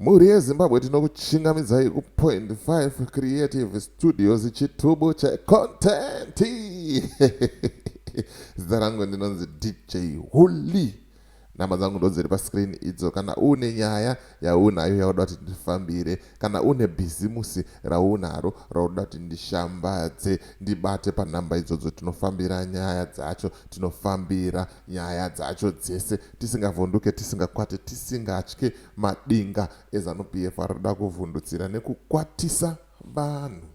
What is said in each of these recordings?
mhuri yezimbabwe tinokuchingamidzai kupoint 5 creative studios chitubu checontenti zita rangu ndinonzi dj huli nhamba dzangu ndodziri pascreen idzo kana uine nyaya yaunayo yauda kuti ndifambire Kana une bhizimusi raunaro raunoda kuti ndishambadze ndibate panhamba idzodzo tinofambira nyaya dzacho tinofambira nyaya dzacho dzese tisingavhunduke tisingakwate tisingatye madinga ezanupf arikuda kuvhundutsira nekukwatisa vanhu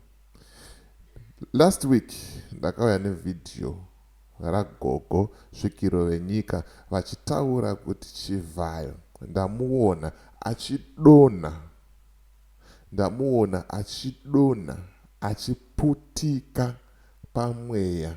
last week ndakauya nevhidhiyo ragogo svikiro venyika vachitaura kuti Chivhayo ndamuona achidonha ndamuona achidonha achiputika pamweya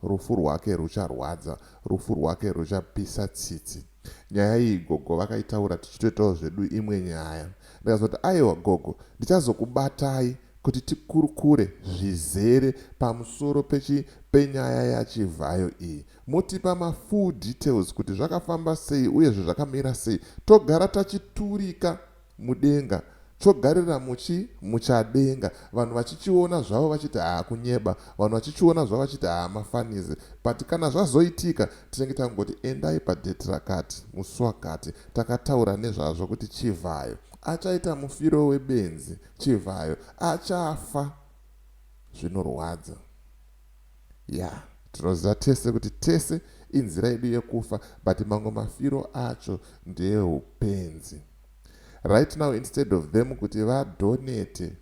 rufu rwake rucharwadza rufu rwake ruchapisa tsitsi nyaya iyi gogo vakaitaura tichitoitawo zvedu imwe nyaya ndikazoti aiwa gogo ndichazokubatai kuti tikurukure zvizere pamusoro pechi penyaya ya Chivhayo iyi motipa ma full details kuti zvakafamba sei uyezve zvakamira sei togara tachiturika mudenga chogarira muchi muchadenga vanhu vachichiona zvavo vachiti haa kunyeba vanhu vachichiona zvavo vachiti haa mafanizi but kana zvazoitika tinenge tangoti endai pa date rakati musi wakati takataura nezvazvo kuti Chivhayo achaita mufiro webenzi Chivhayo achafa zvinorwadza yeah tinoziva tese kuti tese inzira yedu yekufa but mamwe mafiro acho ndeeupenzi right now instead of them kuti vadonete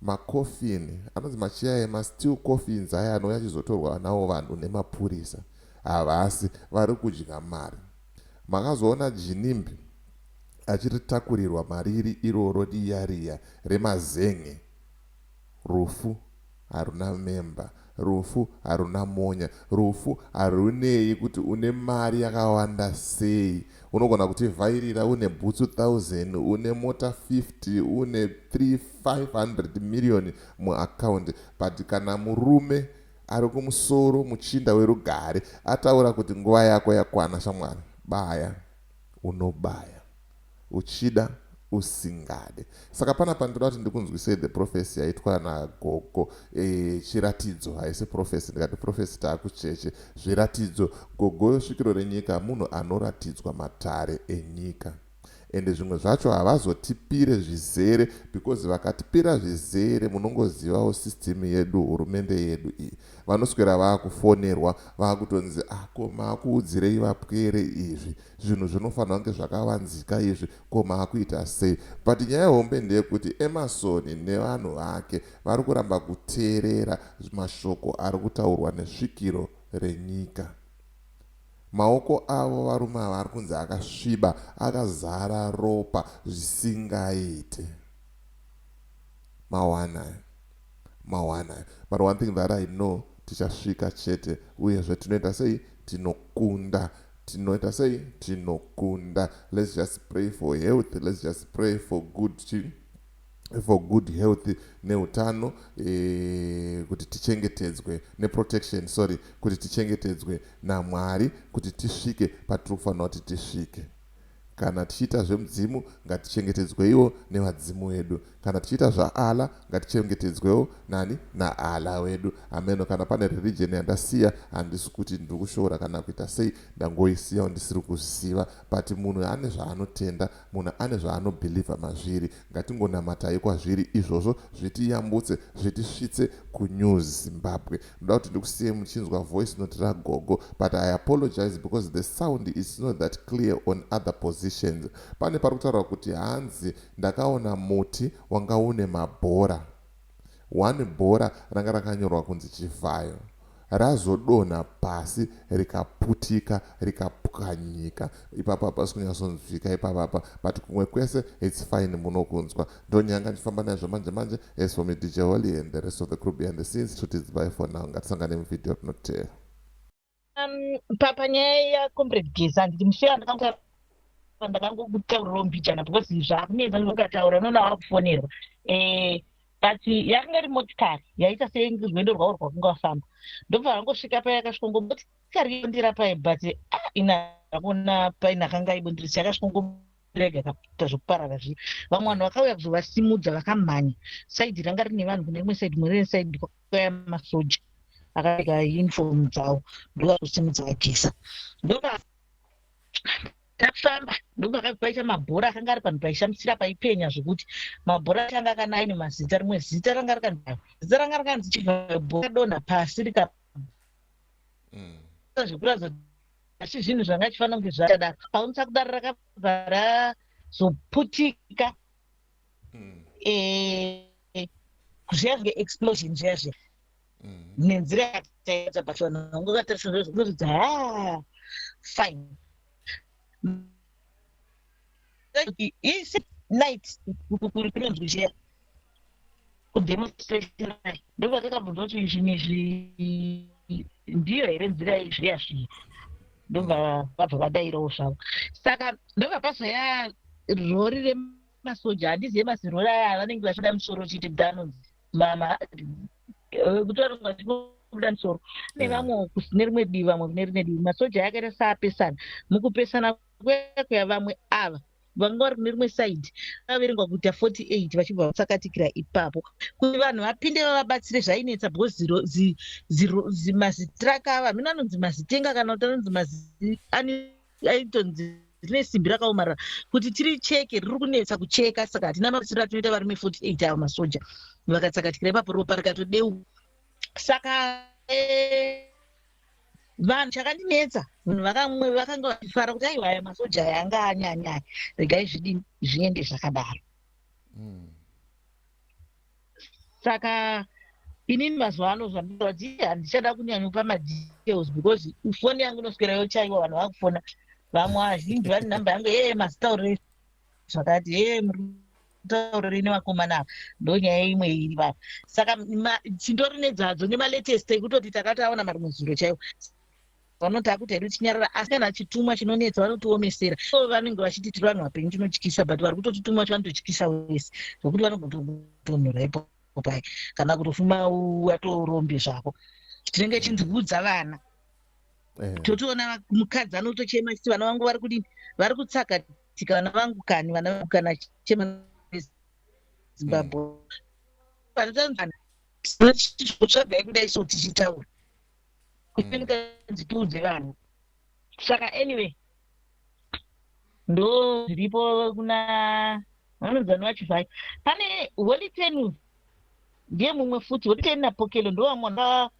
macoffin anonzi machiya emasteel coffins aya anouya achizotorwa nawo vanhu nemapurisa havasi vari kudya mari makazoona jinimbi achiritakurirwa mariri iroro riya riya remazen'e rufu haruna member rufu haruna monya rufu harunei kuti une mari yakawanda sei unogona kutivhairira une bhutsu 1000 une mota 50 une 3500 million muaccount but kana murume ari kumusoro muchinda werugare ataura kuti nguva yako yakwana shamwari baya unobaya uchida usingade saka panapa ndoda kuti ndikunzwisei the prophecy yaitwa nagogo e, chiratidzo haisi prophecy ndikati prophecy taakucheche zviratidzo gogo svikiro renyika munhu anoratidzwa matare enyika ende zvimwe zvacho havazotipire zvizere because vakatipira zvizere munongozivawo system yedu hurumende yedu iyi Vanoswera vakufonerwa vakutonzi ah ko makuudzirei vapwere izvi zvinhu zvinofanirwa kunge zvakavanzika izvi ko makuita sei but nyaya hombe ndeyekuti Emerson nevanhu vake vari kuramba kuteerera mashoko ari kutaurwa nesvikiro renyika maoko avo varume ava ari kunzi akasviba akazara ropa zvisingaite mawana Mawana but one thing that I know tichasvika chete uyezve tinoita sei tinokunda tinoita sei tinokunda let's just pray for health let's just pray for good chi for good health neutano e, kuti tichengetedzwe neprotection sorry kuti tichengetedzwe namwari kuti tisvike patiri kufanira kuti tisvike Kana tichiita zvemudzimu, ngatichengetedzweiwo nevadzimu wedu. Kana tichiita zvaAllah, ngatichengetedzwewo nani? NaAllah wedu. Hameno kana pane religion yandasiya, handisi kuti ndiri kushoora kana kuita sei, ndangoisiyawo ndisiri kuzviziva. But munhu ane zvaanotenda, munhu ane zvaanobeliever mazviri. Ngatingonamatai kwazviri izvozvo zvitiyambutse zvitisvitse ku New Zimbabwe. Ndoda kuti ndikusiyei muchinzwa voice note ragogo but I apologize because the sound is not that clear on other positions. Pane parikutaurwa kuti hanzi ndakaona muti wanga une mabhora. One bhora ranga rakanyorwa kunzi Chivhayo razodonha pasi rikaputika rikapwanyika ipapa hapasi kunyatsonzwika ipapapa but kumwe kwese its fine munokunzwa ndonyanga ndifamba naizvo manje manje as for me dj holy and the rest of the crew behind the scenes to tits by for now ngatisangane muvideo rinoteera Um, panyaya yacomrade gesa handiti musheya ndakanga ndakangokutaurirawo mbijana because zvakunetsa ndokataura unoona wakufonerwa eh, but yakanga iri motikari yaita serwendo rwavo rwakunga wafamba ndobva vangosvika paya yakasvika ngo motikari yondira paye but ah, ina akuona paine akanga aibondirisa yakasvika ngo rega kakuita zvekuparara zviya vamwe vanhu vakauya kuzovasimudza vakamhanya saidi ranga rine vanhu kune imwe saidi mune saidi kwaka kwaya masoja akapfeka uniform dzawo ndokakusimudza vageza ndoka takufamba ndopakaita mabhora akanga ari panhu paishamisira paipenya zvekuti mabhora achanga akana aine mazita rimwe zita ranga rikanzaa zita ranga rikanzi chibhora donha pasi rika mm. zvekuratidza asi zvinhu zvanga chifanira kunge zvakadaro paunisa kudaro rakabva razoputika mm. eh, zviya zve explosion zviya zviya mm-hmm. nenzira yataita pachona unge ukatarisa zvo zvinoridza ha ah, fine night kunonzwi zviya kudemonstration ndokwatakabvunza kuti izvimwe izvi ndiyo here nzira izviya zviya ndobva vabva vadairawo zvavo saka ndobva pazoya rori masoja handizive masirwere aya vanenge vachida musoro chete kuda anonzi mama eh, kutoronga kubuda musoro kune vamwe kusine rimwe divi vamwe kune rimwe divi masoja aya akaita saapesana mukupesana kuya vamwe ava vanga vari kune rimwe saidi vaverengwa kuita 48 vachibva vasakatikira ipapo kuti vanhu vapinde vavabatsire zvainetsa because zimazitraka ava mino anonzi mazitenga kana kuti anonzi mazi yaitonzi rine simbi rakaomarara kuti tiri cheke riri kunetsa kucheka saka hatina mabetsero atinoita varume 48 avo masoja vakatsakatikira ipapo ropa rikatodeuka saka eh, vanhu chakandinetsa vanhu vakamwe vakanga vachifara kuti aiwa aya masoja aya anga anyanyaya regai zvidini zviende zvakadaro mm. saka inini mazuva ano zvandinoa kuti handichada kunyanyopa madetails because foni yangu inoswera yochaiwa vanhu vakufona vamwe azhinji vane number yangu ee mazitaurire zvakati ee muritaurire nevakomana ava ndonyaya imwe iri vava saka tindori nedzadzo nemalatest ekutoti takataona marimwe zuro chaiwo vanoti akuti hedu tinyarara asi kana chitumwa chinonetsa vanotiomesera so vanenge vachiti tiri vanhu vapenyu tinotyisa but vari kutotitumwa cho vanototyisa wese zvekuti vanogotonhora ipo pai kana kutofuma watorombe zvako tinenge chinzi vudza vana eh. totoona mukadzi anotochema chiti vana vangu vari kudini vari kutsakatika vana vangu kani vana vangu kana chema zimbabwe eh. vanotanzana tinotsvagai kudai so tichitaura isenikadzi mm. tiudze vanhu saka anyway ndo zviripo kuna vanonzani vacho zvai pane holy ten ndiye mumwe futi holy ten napokelo ndo vamwe ndaona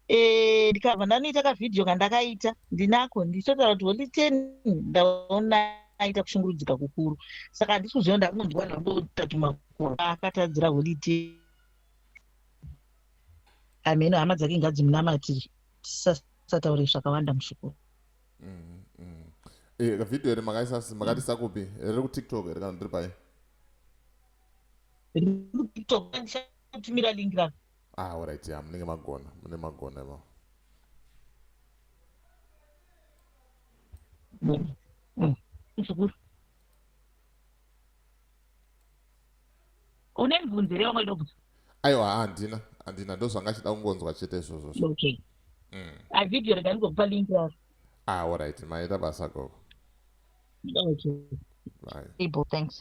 eh, ndikabva ndanoita kavhidhiyo kandakaita ndinako ndichitotaura kuti holy ten ndaona aita kushungurudzika kukuru saka handisi kuziva ndakunondiwana ndotatuma kuakatadzira holy ten ameno hama dzake ngadzimunamatiri tisasataure zvakawanda mushukuru mm, mm. eh, video here makaisasi makatisa mm. kupi riri kutiktok here kana ndiri pai rikutiktokutumira link ra ah orit ya munenge magona mune magona ivo mshukuru une mibvunzo here wanga idobvunza aiwa handina handina ndozvanga achida kungonzwa chete izvozvo okay mm. a video rega ndingokupa link yaro ah orit maita basa gogo okay Bye. People, thanks.